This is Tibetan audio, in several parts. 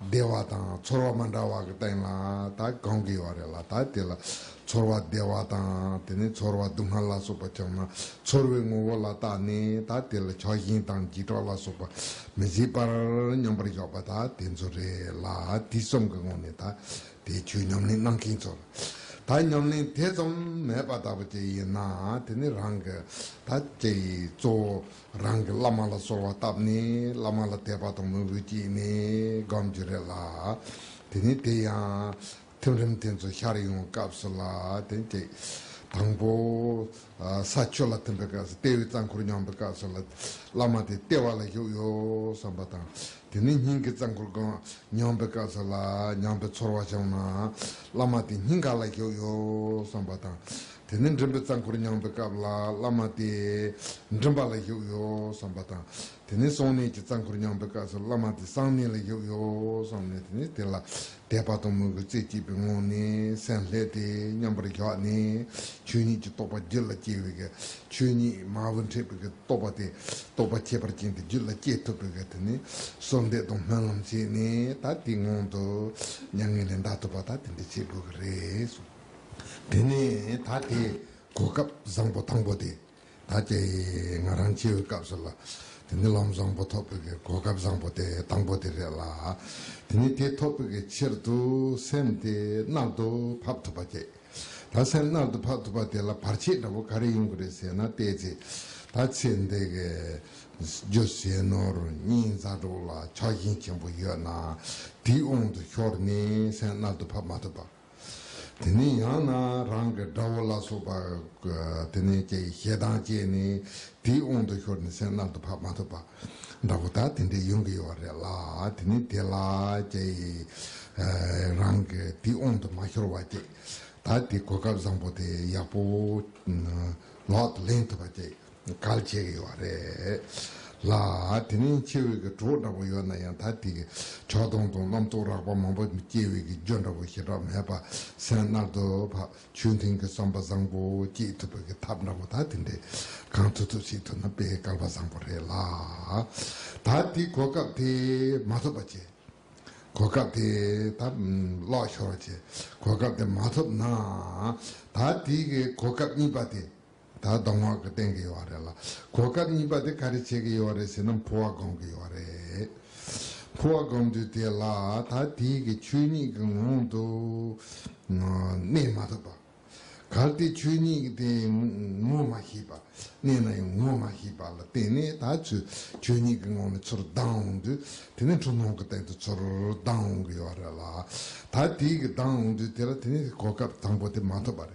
བདེ་བ་དང་ཚོར་བ་མ་འདྲ་བ་གི་སྟེང་ལ་ད་གང་གི་ཡོད་རེད་ལ་ད་དེ་ལ་ཚོར་བ་བདེ་བ་དང་དེ་ནས་ཚོར་བ་སྡུག་བསྔལ་ལ་སོགས་པ་བྱུང་ན་ཚོར་བའི་ངོ་བོ་ལ་བརྟགས་ནས་ད་དེ་ལ་ཆགས་ཞེན་དང་འཇིགས་སྐྲག་ལ་སོགས་པ་མི་བཟོད་པར་མཉམ་པར་འཇོག་པ་ད་དེ་ཚོ་རེད་ལ་དེ་གསུམ་གི་ངོ་ནས་ད་དེ་ཆོས་ཉམས་ལེན་གནང་མཁན་ཚོར་ད་ཉམས་ལེན་ཐེ་ཚོམ་མེད་པ་ལྟ་བུ་ཅིག་ཡིན་ན་དེ་ནི་རང་གི་ད་ཅེས་གཙོ་བོ། རང་གི་བླ་མ་ལ་གསོལ་བ་བཏབ་ནས་བླ་མ་ལ་དད་པ་དང་མོས་གུས་བསྐྱེད་ནས་སྒོམ་རྒྱུ་རེད་ལ། དེ་ནས་དེ་ཡང། ཐིམ་རིམ་དེ་ཚོ་ཤར་ཡོང་བའི་སྐབས་སུ་ལ་དེ་གཅིག། དང་པོ། ས་ཆོས་ལ་ཐིམ་པའི་སྐབས་སུ་ལྟེ་བའི་རྩ་འཁོར་མྱངས་པའི་སྐབས་སུ་ལ། བླ་མ་དེ་ལྟེ་བ་ལ་བཞུགས་ཡོད་བསམ་པ་དང། དེ་ནས་སྙིང་གི་རྩ་འཁོར་སྒོ་མྱངས་པའི་སྐབས་སུ་ལ་མྱངས་པའི་ཚོར་བ་བྱུང་ན། བླ་མ་དེ་སྙིང་ག་ལ་བཞུགས་ཡོད་བསམ་པ་དང། དེ་ནས་མགྲིན་པའི་རྩ་འཁོར་མྱངས་པའི་སྐབས་ལ་བླ་མ་སྟེ། མགྲིན་པ་ལ་བཞུགས་ཡོ་བསམ་པ་དང། དེ་ནས་སོང་གནས་ཀྱི་རྩ་འཁོར་མྱངས་པའི་སྐབས་སུ་བླ་མ་སྟེ་གསང་གནས་ལ་བཞུགས་ཡོ་བསམ་ནས་དེ་ནས་དེ་ལ་དད་པ་དང་མོས་གུས་རྩེ་གཅིག་པའི་ངང་ནས་སེམས་ལྷད་དེ་མཉམ་པར་བཞག་ནས་ཆོས་ཉིད་ཀྱི་རྟོགས་པ་རྒྱུད་ལ་སྐྱེ་བའི་ཆོས་ཉིད་མ་བུ་མཁྲེགས་པའི་རྟོགས་པ་དེ་རྟོགས་པ་ཁྱད་པར་ཅན་དེ་རྒྱུད་ལ་སྐྱེ་ཐུབ་པའི་དེ་ནས་གསོལ་འདེབས་དང་སྨོན་ལམ་བྱས་ནས་ད་དེའི་ངང་དུ་མྱ་ངན་ལས་འདའ་ཐུབ་པ་ད་དེ་འདྲ་བྱེད་དགོས་ཀྱི་རེད། དེ་ནས་ད་དེ་གོ་སྐབས་བཟང་པོ་དང་པོ་དེ་ད་ཀྱེ་ང་རང་སྐྱེ་བའི་སྐབས་སུ་ལ་དེ་ནས་ལམ་བཟང་པོ་ཐོབ་པའི་གོ་སྐབས་བཟང་པོ་དེ་དང་པོ་དེ་རེད་ལ་དེ་ནས་དེ་ཐོབ་པའི་ཕྱིར་དུ་སེམས་དེ་རྣར་དུ་ཕབ་ཐུབ་པ་ཀྱེ་ད་སེམས་རྣར་དུ་ཕབ་ཐུབ་པ་དེ་ལ་བར་ཆད་འདྲ་བོ་ག་རེ་ཡིན་དགོས་རེད་ཟེར་ན་བལྟས་ཚེ་ད་ཚེ་འདི་གི་རྒྱུ་ཟས་ནོར་སྙིང་རྩ་དྲུག་ལ་ཆགས་ཞེན་ཆེན་པོ་ཡོད་ན་དེའི་དབང་དུ་ཤོར་ནས་སེམས་རྣར་དུ་ཕབ་མ་ཐུབ་པ། དེ་ནས་ཡང་ན་རང་གི་དགྲ་བོ་ལ་སོགས་པ། དེ་ནས་ཀྱེ་ཞེ་སྡང་སྐྱེས་ནས་དེའི་དབང་དུ་ཤོར་ནས་སེམས་རྣམ་དུ་འཕགས་མ་ཐུབ་པ། འདྲ་བོ་དག་དེ་འདྲའི་ཡོང་གི་ཡོད་བ་རེད་ལ་དེ་ནས་དེ་ལ་ཀྱེ། རང་གི་དེའི་དབང་དུ་མ་ཤོར་བ་ཀྱེ། ད་དེ་གོ་སྐབས་བཟང་པོ་དེ་ཡག་པོ། ལག་ཏུ་ལེན་ཐུབ་པ་ཀྱེ། གལ་ཆེ་གི་ཡོད་རེད་ལ། དེ་ནས་ཕྱི་བོད་ཀྱི་གྲོགས་འདྲ་པོ་ཡོད་ན་ཡང་ད་ཐིག་གི་ཕྱོགས་སྟོང་དང་རྣམ་རྟོག་རགས་པ་མང་པོ་སྐྱེ་བའི་གི་རྒྱུ་འདྲ་པོ་ཞེ་དྲག་མེད་པ་སེམས་རྣལ་དུ་ཕབ་ཆོས་མཐུན་གི་བསམ་པ་བཟང་པོ་སྐྱེ་ཐུབ་པའི་གི་ཐབས་འདྲ་པོ་ད་དེ་འདྲས་གང་ཐུབ་ཐུབ་ཞིག་ཐུབ་ན་དཔེ་བཀལ་པ་བཟང་པོ་རེད་ལ། ད་ཐིག་གོ་སྐབས་དེ་མ་ཐོབ་པ་ཆེ། གོ་སྐབས་དེ་ད་ལོག་ཤོར་བ་ཆེ་གོ་སྐབས་དེ་མ་ཐོབ་ན། ད་ཐིག་གི་གོ་སྐབས་གཉིས་པ་དེ་ད་གདོང་བ་གི་སྟེང་གི་ཡོ་བ་རེད་ལ། གོ་སྐབས་གཉིས་པ་དེ་ག་རེ་བྱེད་ཀྱི་ཡོ་བ་རེད་ཟེར་ན་འཕུར་བ་སྒོམ་གི་ཡོ་བ་རེད། འཕུར་བ་སྒོམ་དུས་དེ་ལ་ད་དེའི་གི་ཆོས་ཉིད་ཀྱི་ངང་དུ་གནས་མ་ཐུབ་པ། གར་དེའི་ཆོས་ཉིད་དེ་ངོ་མ་ཤེས་པ། གནས་ན་ཡང་ངོ་མ་ཤེས་པ་ལ་བརྟེན་ནས་ད་ཚུལ་ཆོས་ཉིད་ཀྱི་ངང་ནས་ཚུར་ལྡང་འོང་དུས་དེ་ནི་འཁྲུལ་སྣང་གི་སྟེང་དུ་ཚུར་ལྡང་འོང་གི་ཡོ་བ་རེད་ལ། ད་དེའི་གི་ལྡང་འོང་དུས་དེ་ལ་དེ་ནི་གོ་སྐབས་དང་པོ་དེ་མ་ཐོབ་པ་རེད།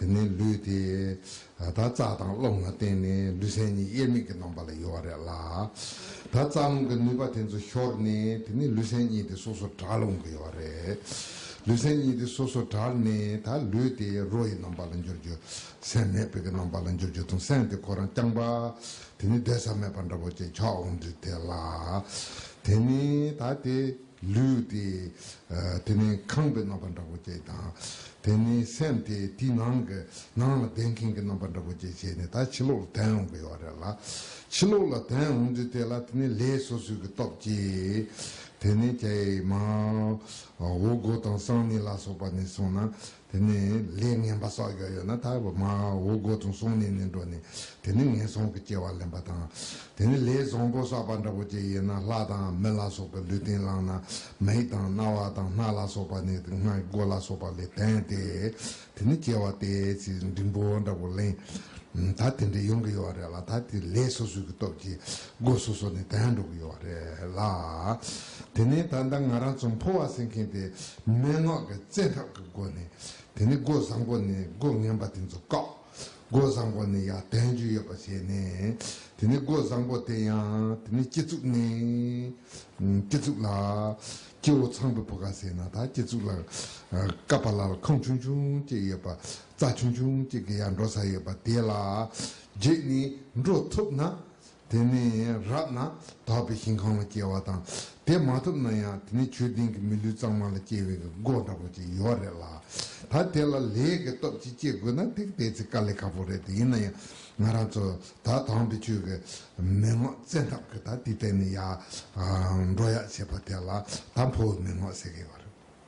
དེ་ནས་ལུས་དེ། ད་རྩ་དང་རླུང་ལ་བརྟེན་ནས་ལུས་སེམས་གཉིས་དབྱེར་མེད་ཀྱི་རྣམ་པ་ལ་དབྱེ་བ་རེད་ལ། ད་རྩ་རླུང་གི་ནུས་པ་དེ་ཚོ་ཤོར་ནས་དེ་ནས་ལུས་སེམས་གཉིས་དེ་སོ་སོར་གྲགས་རླུང་གི་དབྱེ་བ་རེད། ལུས་སེམས་གཉིས་དེ་སོ་སོར་གྲགས་ནས་ད་ལུས་དེ་རོ་ཡི་རྣམ་པ་ལ་འགྱུར་རྒྱུ། སེམས་མེད་པའི་ཀྱི་རྣམ་པ་ལ་འགྱུར་རྒྱུ་དང་སེམས་དེ་ཁོ་རང་རྐྱང་པ། དེ་ནས་སྡོད་ས་མེད་པ་འདྲ་བོ་ཅིག་ཆགས་འོང་དུས་དེ་ལ། དེ་ནས་ད་དེ། ལུས་ཏེ། དེ་ནས་ཁང་པའི་རྣམ་པ་འདྲ་བོ་ཅན་དང། དེ་ནས་སེམས་ཏེ་དེའི་ནང་གི་ནང་ལ་གདན་ཁེང་གི་རྣམ་པ་འདྲ་བོ་ཅན་བྱས་ནས་ད་ཕྱི་ལོགས་ལ་གདན་འོང་གི་ཡོད་རེད་ལ། ཕྱི་ལོགས་ལ་གདན་འོང་དུས་དེ་ལ་དེ་ནས་ལས་སོ་སོའི་གི་སྟོབས་ཀྱིས། དེ་ནས་ཀྱེ་མ། འོ་སྒོ་དང་སང་ནི་ལ་སོགས་པ་ནས་སོང་ན་དེ་ནས་ལས་ངན་པ་སོགས་ཡོད་ཡོད་ན་ད་བར་མ་འོ་སྒོ་ཙོང་སོང་ནས་ནས་འགྲོ་ནས་དེ་ནས་ངན་སོང་གི་སྐྱེ་བ་ལེན་པ་དང། དེ་ནས་ལས་བཟང་པོ་བསགས་པ་འདྲ་པོ་ཅིག་ཡིན་ན་ལྷ་དང་མི་ལ་སོགས་པའི་ལུས་རྟེན་བླངས་ན་མིག་དང་རྣ་བ་དང་སྣ་ལ་སོགས་པ་ནས་དེ་སྔའི་སྒོ་ལ་སོགས་པ་ལས་དན་ཏེ་དེ་ནས་སྐྱེ་བ་སྟེ་ཚེ་འབྲིང་པོ་འདྲ་པོ་ལེན། ད་དེ་འདྲ་ཡོང་གི་ཡོད་རེད་ལ་ད་དེ་ལས་སོ་སོའི་གི་སྟོབས་ཀྱིས་སྒོ་སོ་སོ་ནས་དལ་འགྲོ་གི་ཡོད་རེད་ལ། དེ་ནས་ད་ལྟ་ང་རང་ཚོ་འཕོ་བ་ཟེར་མཁན་དེ་མན་ངག་གི་བཙན་ཐབས་ཀྱི་སྒོ་ནས་དེ་ནས་སྒོ་བཟང་པོ་ནས་སྒོ་ངན་པ་དེ་ཚོ་བཀག། སྒོ་བཟང་པོ་ནས་ཡང་དལ་འཇུག་ཡོད་པ་བྱས་ནས་དེ་ནས་སྒོ་བཟང་པོ་དེ་ཡང་དེ་ནས་སྐྱིད་ཚུགས་ནས། སྐྱིད་ཚུགས་ལ། སྐྱེ་བོ་ཚངས་པའི་བུ་ག་ཟེར་ན་ད་སྐྱིད་ཚུགས་ལ། ཀ་པཱ་ལ་ལ་ཁང་ཆུང་ཆུང་གཅིག་ཡོད་པ་རྩྭ་ཆུང་ཆུང་གཅིག་གི་ཡང་འགྲོ་ས་ཡོད་པ་དེ་ལ་བརྗེས་ནས་འགྲོ་ཐུབ་ན། དེ་ནས་རབ་ན་དག་པའི་ཞིང་གང་ལ་སྐྱེ་བ་དང་དེ་མ་ཐོབ་ན་ཡང་དེ་ནས་ཆོས་ལྡན་གྱི་མི་ལུས་གཙང་མ་ལ་སྐྱེ་བའི་སྒོ་འདྲ་པོ་ཅིག་ཡོད་རེད་ལ། ད་དེ་ལ་ལས་ཀྱི་སྟོབས་ཀྱིས་སྐྱེ་དགོས་ན་དེ་བལྟས་ཚེ་དཀའ་ལས་ཁག་པོ་རེད་དེ་ཡིན་ན་ཡང་ང་རང་ཚོ་ད་དང་པོའི་ཆོས་ཀྱི་མི་ངོ་བཙན་ཐབས་ཀྱིས་ད་དེ་བལྟས་ནས་ཡག་འགྲོ་ཡག་བྱས་པ་དེ་ལ་ད་ཕོ་བའི་མི་ངོ་ཟེར་གི་ཡོད་རེད།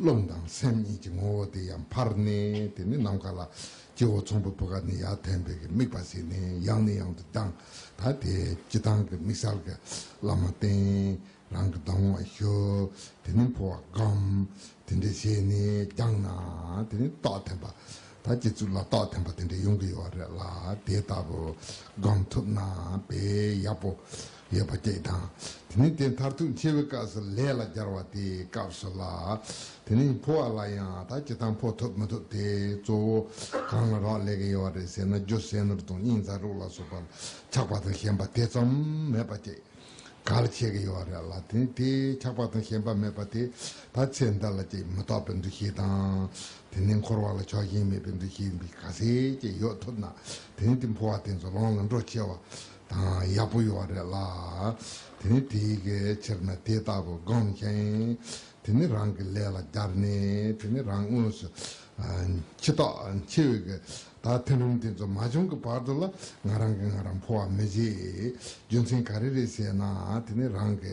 རླུང་དང་སེམས་གཉིས་ཀྱི་ངོ་བོ་དེ་ཡང་འཕར་ནས་དེ་ནི་ནམ་མཁའ་ལ་སྐྱེ་བོ་ཚོམ་བུ་བུ་ག་ནི་ཡང་ཐན་པའི་གི་དམིགས་པ་ཟིན་ནས་ཡང་ནས་ཡང་དུ་ལྡང་ད་དེ་ཅི་ལྡང་གི་དམིགས་བསལ་གི་བླ་མ་བསྟེན་རང་གི་ལྡང་བ་ཞུ་དེ་ནི་འཕོ་བ་སྒམ་དེ་འདྲས་བྱས་ནས་རྒྱང་ན་དེ་ནི་རྟོགས་ཐན་པ་ད་སྤྱི་གཙུག་ལ་རྟོགས་ཐན་པ་དེ་འདྲས་ཡོང་གི་ཡོད་རེད་ལ་དེ་ལྟ་བུ་སྒམ་ཐུབ་ན་དཔེ་ཡག་པོ་ཡོད་པ་བཅས་དང། དེ་ནས་དེ་མཐར་ཐུག་འཆི་བའི་སྐབས་སུ་ལས་ལ་སྦྱར་བ་དེའི་སྐབས་སུ་ལ། དེ་ནས་འཕོ་བ་ལ་ཡང་ད་ཇི་ལྟར་འཕོ་ཐུབ་མི་ཐུབ་དེ་གཙོ་བོ། གང་ལ་རག་ལས་ཀྱི་ཡོད་བ་རེད་ཟེར་ན་རྒྱུ་ཟས་ནོར་དང་སྙིང་ཚ་རུག་ལ་སོགས་པ་ལ་ཆགས་པ་དང་ཞེན་པ་དེ་ཙམ་མེད་པ་བཅས་ག་ལ་བྱེད་ཀྱི་ཡོད་བ་རེད་ལ་དེ་ནས་དེ་ཆགས་པ་དང་ཞེན་པ་མེད་པ་དེ་ད་ཚེ་འདི་ལ་ཅིས་མི་རྟོགས་པའི་འདུ་ཤེས་དང། དེ་ནས་འཁོར་བ་ལ་ཕྱོགས་ཞེན་མེད་པའི་འདུ་ཤེས་འདི་ག་ཟེ་བཅས་ཡོད་ཐུབ་ན་དེ་ནས་དེ་འཕོ་བ་དེ་ཚོ་ལོངས་ལ་འགྲོ་ཆེ་བ་དང་ཡག་པོ་ཡོད་རེད་ལ། དེ་ནི་དེ་ཡི་གེ་ཕྱིར་ན་དེ་ལྟ་བུ་སྒོམ་ཞིང། དེ་ནི་རང་གི་ལས་ལ་སྦྱར་ནས་དེ་ནི་རང་དངོས་སུ་འཆི་ཐོག་འཆི་བའི་གི་ད་ཐེངས་རིམ་དེ་ཚོ་མ་བྱུང་གི་བར་དུ་ལ་ང་རང་གི་ང་རང་འཕོ་བ་མི་བྱེད། རྒྱུ་མཚན་ག་རེ་རེད་ཞེ་ན་དེ་ནི་རང་གི་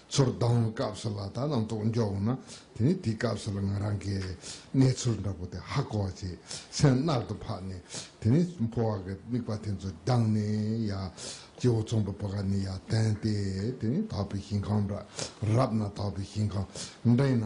ཚུར་ལྡང་བའི་སྐབས་སུ་ལ་དྭགས་རྣམས་གཏོགས་མགྱོགས་འོང་ན་དེ་ནི་དེའི་སྐབས་སུ་ལ་ང་རང་གིས་གནས་ཚུལ་འདྲ་པོ་དེ་ཧ་གོ་བར་བྱས། སེམས་རྣག་ཏུ་འཕགས་ནས་དེ་ནས་འཕོ་བ་གི་དམིགས་པ་དེ་ཚོ་སྦྱངས་ནས་ཡང་སྤྱི་བོ་ཚོམ་བུ་བུ་ག་ནས་ཡང་བསྟན་ཏེ་དེ་ནས་དག་པའི་ཞིང་ཁམས་འདྲ་རབ་ན་དག་པའི་ཞིང་ཁམས་འདྲེན་ན་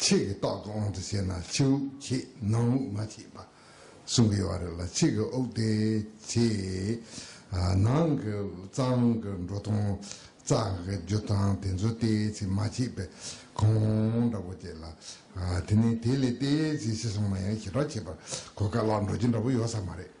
ཕྱེད་ཀྱི་ཏོག་ཏུ་དབང་དུ་བྱས་ན་ཕྱི་དབུགས་ཕྱེད་ནང་དབུགས་མ་ཕྱེད་པ། གསུམ་གྱི་བར་ལ་ཕྱེད་ཀྱི་དབུགས་དེ་ཕྱེད། ནང་གི་གཙང་གི་འགྲོ་དང་གཙང་གི་རྒྱུ་དང་དེ་ཚོ་དེ་ཕྱེད་མ་ཕྱེད་པས་གོང་འདྲ་པོ་བྱེད་ལ། དེ་ནས་དེ་ལས་དེ་ཕྱེད་ཕྱི་སོང་མ་ཡང་ཞི་དྲག་བྱེད་པར་གོ་དཀའ་ལ་འགྲོ་རྒྱུ་འདྲ་པོ་ཡོད་ས་མ་རེད།